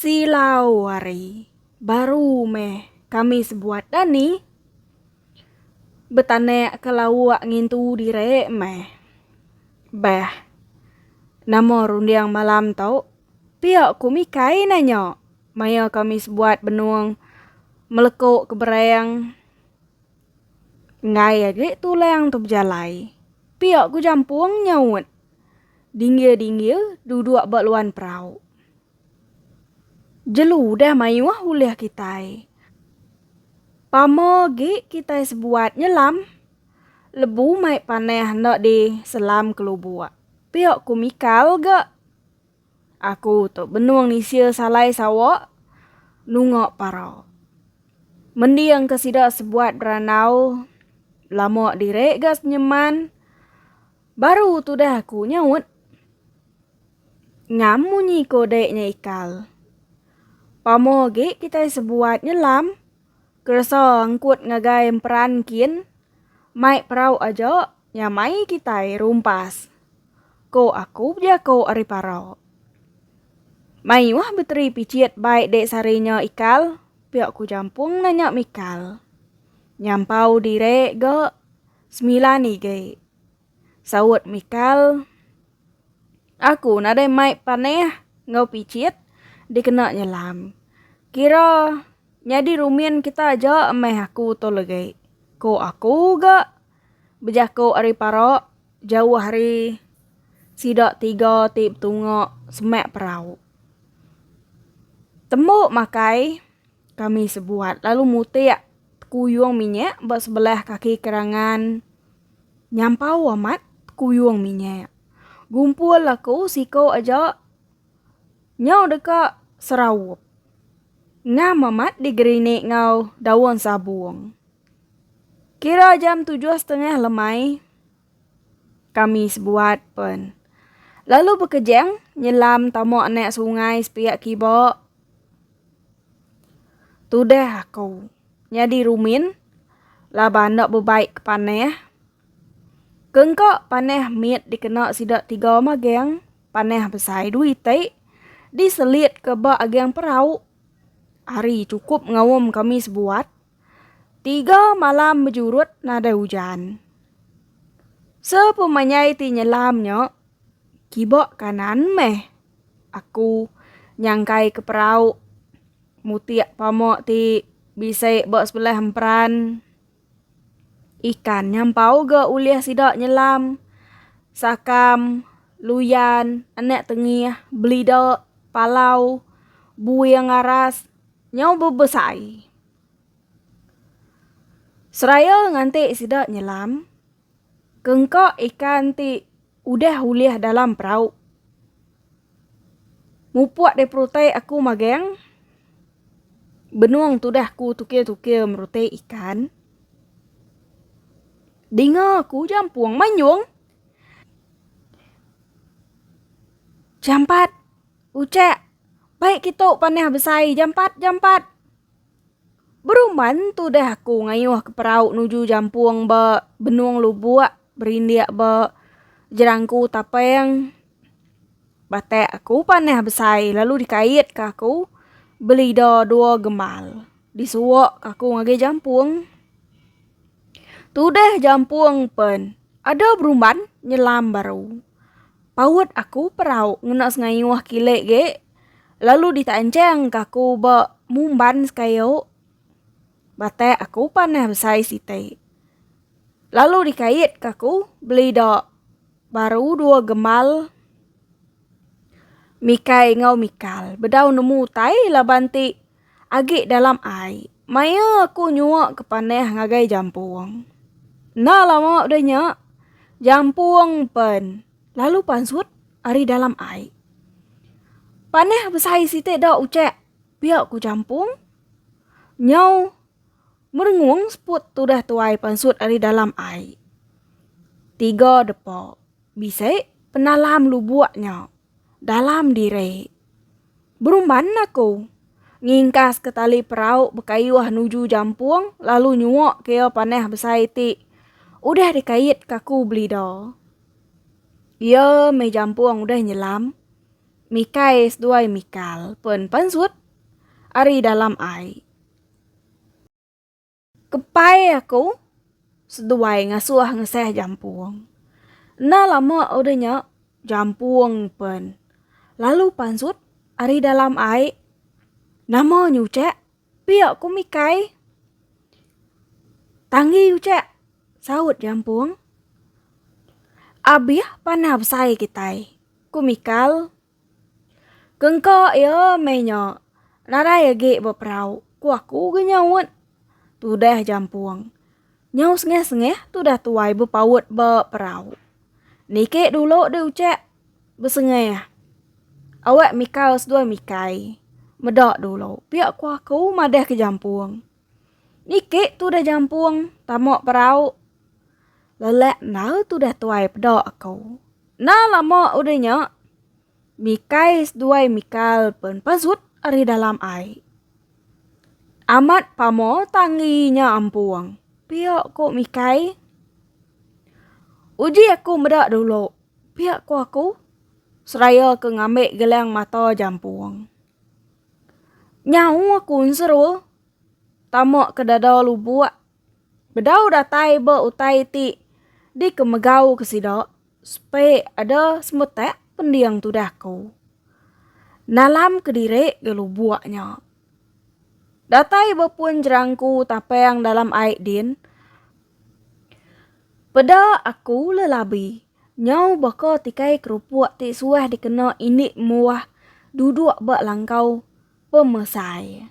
Silau ari baru meh kami sebuat dah ni. Betanak ke lauk ngintu diri meh. Beh. Nama runding malam tu? Pia ku Mikai nanya maya kami sebuat benung melekuk ke berang. Enggai agi tulang tu bejalai. Pia ku jampung nyaut. Dinggir-dinggir duduk ba luan perau. Jelu udah mayuh ulih kitai. Pama agi kitai sebuat nyelam. Lebu mai panah enda diselam ke lubuk. Pia ku Mikal ga. Aku tu benung nisia salai sawa nunga parau. Mending ke sida sebuat berandau lama diri ga senyeman baru tudah aku nyaut. Ngam munyi ko dek nya ikal. Pamo agi kitai sebuat nyelam keresa angkut ngagai emperan kin mai perau aja Nya mai kitai rumpas, ko aku bejako ari parau. Mayuh beteri picit bai dek sari nya ikal, pia ku jampung nanya mikal. Nyampau dire ga semilan igi. Saut mikal, aku nadai mai paneh ngau picit dikena nyelam. Kira nyadi rumin kita aja meh aku tu legi, ko aku ga. Bejaku ari para jauh hari sida tiga ti betunga semak perau. Tembu makai kami sebuat lalu mutik tekuyung minyak ba sebelah kaki kerangan nyampau amat tekuyung minyak. Gumpul aku siku aja nyau deka seraup. Ngam amat digerinik enggau daun sabung. Kira jam tujuh setengah lemai kami sebuat pen lalu bekejang nyelam tama anak sungai sepiak kiba tudah aku nyadi rumin laban enda bebai ke panah ke engka panah mit dikena sida tiga magang panah besai dua iti diselit ke ba agang perau hari chukup ngaum kami sebuat. Tiga malam bejurut nadai ujan. Sepemenyai ti nyelam nya kiba kanan meh aku nyangkai ke perau mutik pama ti bisi ba sebelah emperan ikan nya empau ga ulih sida nyelam sakam luyan anak tengih belida palau buing aras. Nyau bebesai. Seraya nganti sida nyelam, ke engka ikan ti udah ulih dalam perau. Mupuk deh perutai aku magang, benung tudah aku tukir-tukir merutai ikan. Dinga aku jampung manyung. Jampat. Ucek, Bai kitu panah besai jampat jampat. Berumban tu deh aku ngayuh ke perau nuju jampung ba benung lubuk berindik ba jerangku tapeng. Batak aku panah besai lalu dikait ke aku belida dua gembal. Disuok ke aku ngagai jampung. Tu deh jampung pen ada berumban nyelam baru. Paut aku perau ngena sengayuh kilik ge lalu ditancang ka aku ba mumban sekayu. Batai aku panah besai siti. Lalu dikait ka aku belida baru dua gemal mikai enggau mikal. Bedau nemu utai laban ti. Agi dalam ai, maya aku nyuak ke panah ngagai jampung. Enda lama udah nya, jampung pen lalu pansut ari dalam ai. Panah besai siti da ucak pia ku jampung. Nyau merengung seput tudah tuai pansut ari dalam ai. Tiga depa bisi penalam lubuk nya dalam diri. Berumban aku. Ngingkas ke tali perau bekayuh nuju jampung lalu nyuok ke iya panah besai ti udah dikait ke aku belida. Iya meh jampung udah nyelam mikai seduai mikal pen pansut ari dalam ai. Kepai aku seduai ngasuh ngesah jampung. Enda lama udah nya jampung pen lalu pansut ari dalam ai nama nyuchak pia ku mikai. Tanggi uchak saut jampung. Abih panah besai kitai ku mikal. Kengka iya meh nya, nadai agi beperau, ku aku ke nyaut. Tudah jampung. Nyau sengah-sengah tudah tuai bepaut ba perau. Niki dulu deh ucak, besengah. Awak mikal seduai mikai. Meda dulu, pia ku aku madah ke jampung. Niki tudah jampung tama perau. Lelak endar tudah tuai peda aku. Enda lama udah nya, Mikai seduai Mikal pen pazut ari dalam ai. Amat pama tanggi nya ampung, pia ku Mikai. Uji aku meda dulu, pia ku aku seraya ke ngambi gelang mata jampung. Nyau aku seru tama ke dadau lubok bedau datai ba utai ti dikemegau ke sida sepe ada semetak pending tudah ku nalam kediri ga lubok nya datai ba pun jerangku tapang dalam ai din peda aku lelabi. Nyau baka tikai kerupuk ti suah dikena indi muah duduk ba langkau pemesai.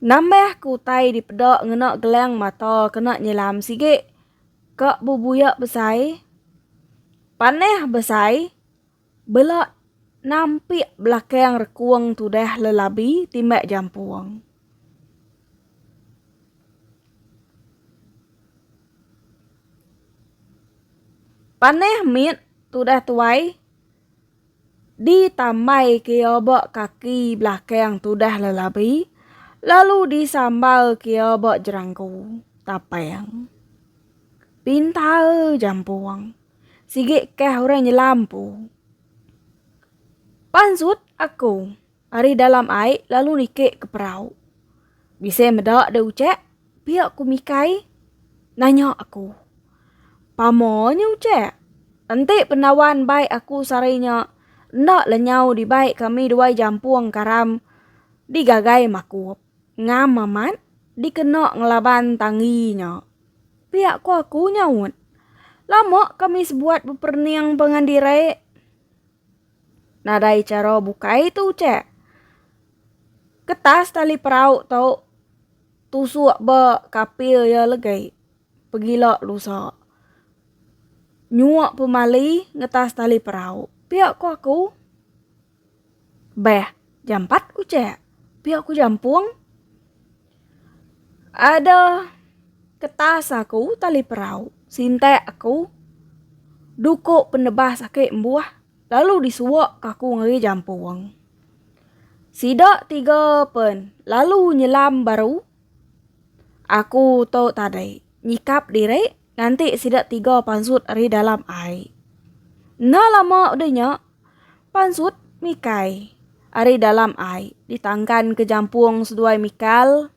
Nambah ke utai dipeda ngena gelang mata kena nyelam sigi ka bebuyak besai, panah besai Bela nampik belakang rekung tudah lelabi timbak jampung. Panah mit tudah tuai ditambaika iya ba kaki belakang tudah lelabi lalu disambalka iya ba jeranggu tapang pintar jampung. Sigi kah orang nyelam empu. Pansut aku ari dalam ai lalu niki ke perau. Bisi meda deh ucek, pia ku Mikai nanya aku. Pama nya ucek? Enti pendawan bai aku sehari nya enda lenyau dibai kami duai jampung karam digagai makup. Ngam amat dikena ngelaban tanggi nya. Pia ko aku nyaut. Lama kami sebuat beperening pengan diri. Nadai chara bukai tu ucak. Ketas tali perau tu tusuk ba kapil iya legi. Pegila lusa. Nyuak pemali ngetas tali perau. Pia ko aku. Beh, jampat ku ce, pia ku jampung. Ada ketas aku tali perau, sintak aku duko penebas ake mbuh lalu disua ka aku ngagai jampung. Sida tiga pen lalu nyelam baru aku tu tadi nyikap diri. Nganti sida tiga pansut ari dalam ai. Enda lama udah nya, pansut Mikai ari dalam ai ditangkan ke jampung seduai Mikal.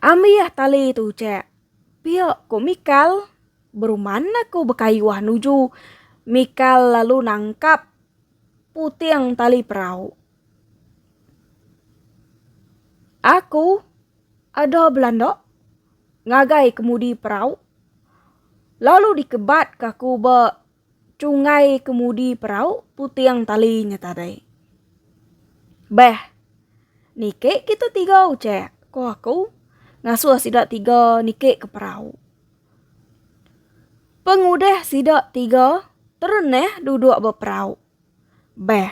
Ambih tali tu, Cak. Pia ko Mikal. Beruman aku bekayuh nuju Mikal lalu nangkap puting tali perau. Aku ada belanda ngagai kemudi perau lalu dikebat ke aku ba chungai kemudi perau puting tali nya tadi. Beh, niki kita tiga ujek, ku aku ngasuh sida tiga niki ke perau. Pengudih sida tiga tereneh duduk ba perau. Beh.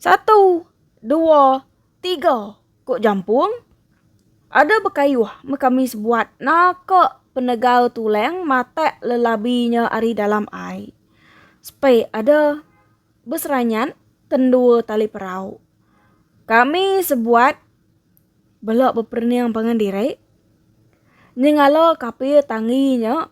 Satu, dua, tiga, ku Jampung. Ada bekayuh meh kami sebuat naka penegal tulang matak lelabi nya ari dalam ai. Sepe ada beseranyat ke endua tali perau. Kami sebuat bela beperening pangan diri nyengala kapir tanggi nya.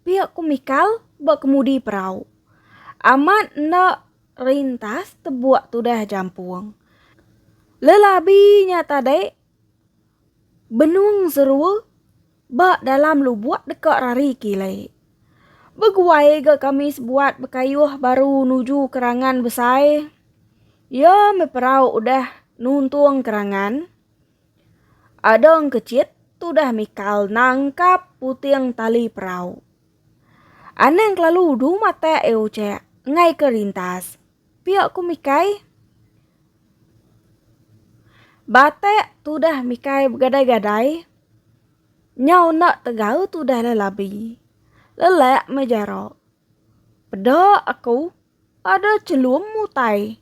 Pia ku Mikal ba kemudi perau. Amat enda rintas tebuak tudah jampung. Lelabi nya tadi benung serua ba dalam lubuk deka rari kili. Beguai ga kami sebuat bekayuh baru nuju kerangan besai. Iya meh perau udah nuntung kerangan. Adong kecit tudah mikal nangkap puting tali perau. Anang kelalu du matak e ucek ngai ke rintas. Pia ku mikai. Batak tudah mikai begadai-gadai. Nyau enda tegau tudah le labi. Lelak meh jaro. Peda aku Ada chelum mutai.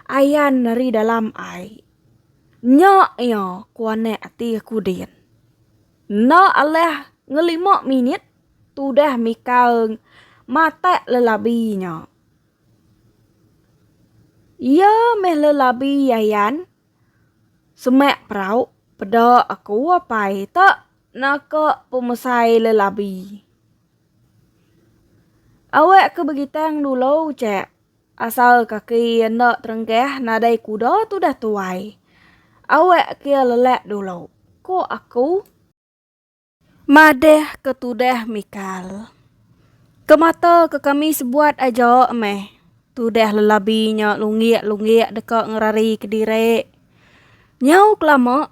Ayan ari dalam ai. Nya iya ku anak ati aku din. Enda alah ngelima minit tudah Mikal matak lelabi nya. Iya meh lelabi Ayan semak perau peda aku apai tak naka pemesai lelabi. Awak ke begitang dulu ce, asal kaki iya enda terenggah nadai kuda tu dah tuai. Awak ke iya lelak dulu, ku aku. Madah ke tudah mikal. Ke mata ke kami sebuat aja meh, tudah lelabi nya lunggik-lunggik deka ngerari kediri. Nyau kelama.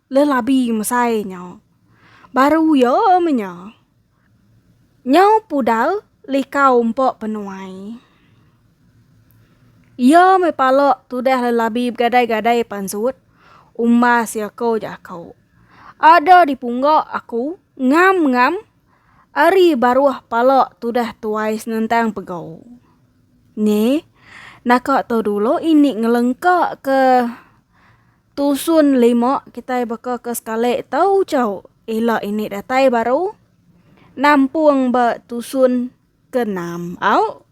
Lelabi mesai nya. Baru ya meh nya. Nyau pudar likau empa penuai. Iya meh pala tudah lelabi begadai-gadai pansut umbas iya ko jako. Ada di pungga aku ngam-ngam ari baruh pala tudah tuai senentang pego. Nge, naka tu dulu ini ngelengka ke Tusun lima kitai baka ke sekali tau chau ila ini datai baru nampung ba tusun ke enam au.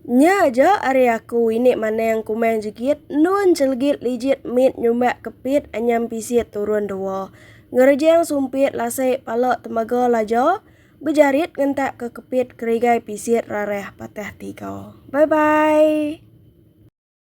Nya aja ari aku ini maneng kumang jegit endun chelegit lijit mit nyumbak kepit anyam pisit turun dua ngerejang sumpit lasik pala temaga laja bejarit ngentak ke kepit kerigai pisit rarah patah tiga. Bye bye.